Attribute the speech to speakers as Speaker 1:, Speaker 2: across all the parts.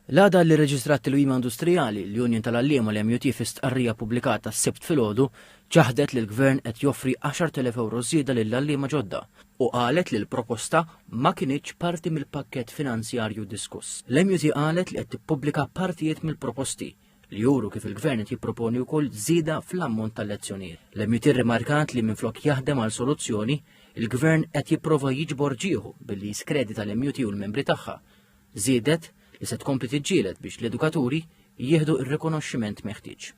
Speaker 1: L-għada li rreġistrat tilwima industrijali, l-Union tal-Għalliema, l-MUT, fi stqarrija ppubblikata s-Sibt filgħodu, ċaħdet li l-Gvern qed joffri 10,000 ewro żieda lill-għalliema ġodda u qalet li l-proposta ma kinitx parti mill-pakkett finanzjarju diskuss. L-MUT qalet li qed tippubblika partijiet mill-proposti li juru kif il-Gvern qed jipproponi wkoll żieda fl-ammont tal-lezzjonijiet. L-MUT rrimarkat li minflok jaħdem għal soluzzjoni, il-Gvern qed jipprova jiġbor ġieħu billi jiskredita l-MUT u l-membri tagħha Żiedet li se tkompli tiġġieled biex l-edukaturi jieħdu r-rikonoxximent meħtieġ.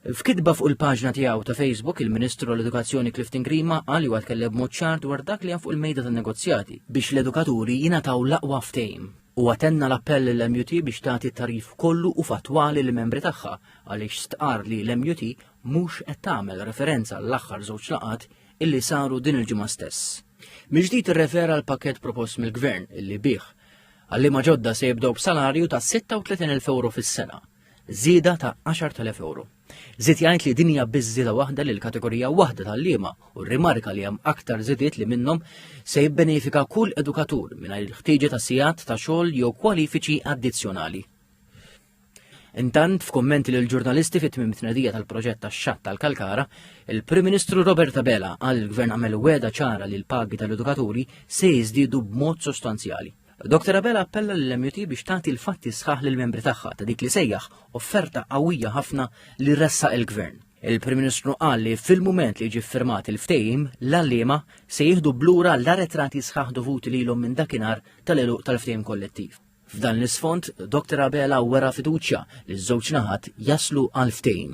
Speaker 1: F'kitba fuq il-paġna tiegħu ta' Facebook, il-Ministru tal-Edukazzjoni Clifton Grima qal huwa tkellem mod ċar dwar dak li hemm fuq il-mejda tan-negozjati biex l-edukaturi jingħataw l-aqwa ftehim. U għatenna l-appell l-MUT biex tagħti t-tarif kollu u fattwali li membri tagħha għaliex stqar li l-MUT mhux qed tagħmel referenza l-aħħar żewġ laqat illi saru din il-ġimgħa stess. Mill-ġdid irrefera l-pakket propost mill-Gvern illi bih għallima ġodda se jibdew b'salarju ta' 36,000 euro fis-sena, żieda ta' 10,000 euro. Zid jgħid li dinja biżżida waħda lil kategorija waħda tal-liema u rimarka li hemm aktar żidiet li minnhom se jibbenefika kull edukatur mingħajr il-ħtieġa ta' sigħat ta' xogħol jew kwalifiċi addizzjonali. Intant, f'kummenti lil ġurnalisti fit tmim tnedija tal-proġett tax-xatt tal-Kalkara, il-Prim Ministru Robert Abela qal li l-Gvern għamel wegħda ċara li l-pagi tal-edukaturi se jiżdiedu b'mod sostanzjali. Dr Abela appella lill-MUT biex tagħti l-fatti sħaħ lill-membri tagħha ta' dik li sejjaħ offerta qawwija ħafna li ressaq il-Gvern. Il-Prim Ministru qal li fil-mument li jiġi ffirmat il-ftehim, l-għalliema se jieħdu blura l-aretrati sħaħ dovuti lilhom minn dakinhar tal-għeluq tal-ftehim kollettiv. F'dan l-isfond, Dr Abela wera fiduċja li ż-żewġ naħat jaslu għal ftehim.